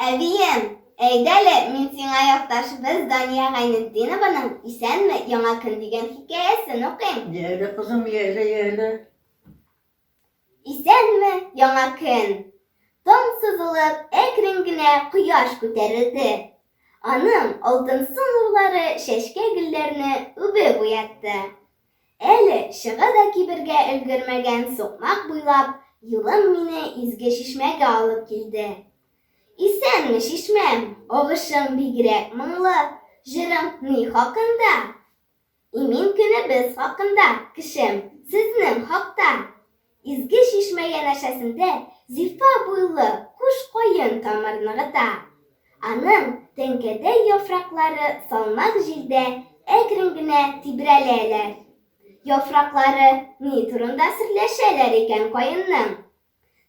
Әбием, әйдәле, мин сиңа якташыбыз Дания Гайнетдинованың Исәнме, яңа көн дигән хикәясен укыйм. Йәле, кызым, йәле, йәле. Исәнме, яңа көн! Таң сызылып, әкрен генә кояш күтәрелде. Аның алтынсу нурлары чәчкә-гөлләрне үбеп уятты. Әле чыга да кибергә өлгермәгән сукмак буйлап юлым мине изге чишмәгә алып килде. Исәнме, чишмәм, агышың бигрәк моңлы, җырың ни хакында? Имин көнебез хакында, кешем, сезнең хакта! Изге чишмә янәшәсендә зифа буйлы куш каен тамыр ныгыта. Аның тәңкәдәй яфраклары салмак җилдә әкрен генә тибрәләләр. Яфраклары ни турында серләшәләр икән каенның?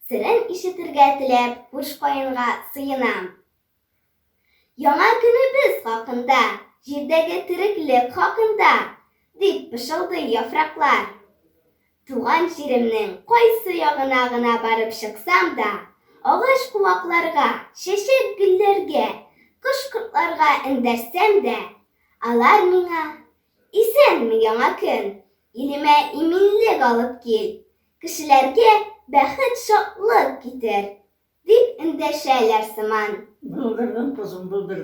Серен ишетергә теләп куш каенга сыенам. Яңа көнебез хакында, Җирдәге тереклек хакында, Дип пышылдый яфраклар. Туган җиремнең кайсы ягына гына барып чыксам да, агач-куакларга, чәчәк-гөлләргә, кош-кортларга эндәшсәм дә, алар миңа, Исәнме, яңа көн! Илемә иминлек алып кил, кешеләргә бәхет-шатлык китер, дип эндәшәләр сыман. Булдырдым, кызым, булдырдым.